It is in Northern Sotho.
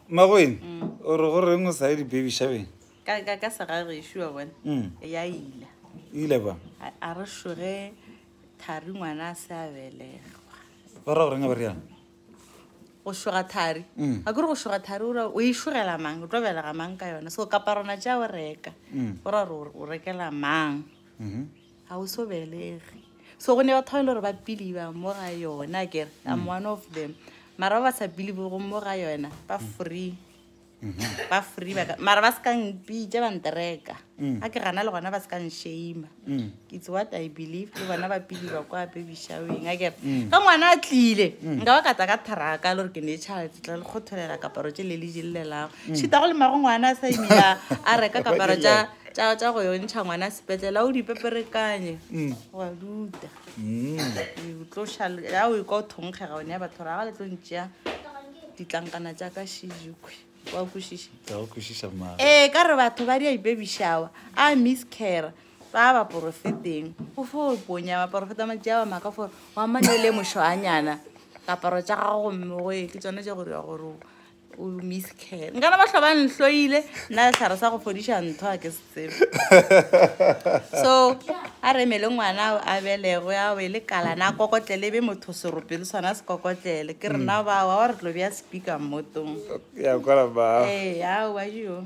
Mmagwene, o re go reng o sa ye di-baby shabeng? Ka, ka, ka segagešu wa bona. Mm. Ya ila. Ile ba. A, a re šoge Thari ngwana a se a belegwa. Ba ra go reng a ba riana? Go šoga Thari. Mm. A kore go šoga Thari o ra o e šogela mang? O tlo belega mang ka yona? So kaparona tša o reka. Mm. O ra gore o rekela mang? Mhm. Mm ga o so belege so go ne batho ba e le gore ba piliba mo ga yona kere am mm. one of them mara ba ba sa pilibe go mo ga yona ba mm. free mm-hmm. ba free ba mara ba se ka mpitse ba ntereka mm. a ke gana le gona ba se ka nshame it's what i believe le bona ba piliba kwa baby showing a kere ka ngwana a tlile nka ba kata ka tharaka le gore ke ne child tla le kgotholela kaparo tse le le jelelelago šita go le mago ngwana a sa imela a reka kaparo tsa tša tša go yo ntšha ngwana sepetlele a o di peperekanye mm. wa duta mm. o tlo šale ya o ikwa o thonkgega one ya batho ra ga le tlo ntšea ditlankana tša ka shijukwe wa kwešiša ee ka re batho ba di a ipebišawa a miss care ba ba porofeteng o fo ponya ba porofeta matšea wa maka fore wa mane le mošoanyana kaparo tša gago gomme goe ke tsone tša gore ya gore o miss care nkana ba tlhoba nhloile nna letlhare sa go fodiša ntho a ke se tsebe so a re mele ngwana o a belego ya o e le kalana a kokotlele e be motho serope le swana se kokotlele ke rena mm. bao a re tlo bja speaker mmotong ya kwala ba ee ao ba jio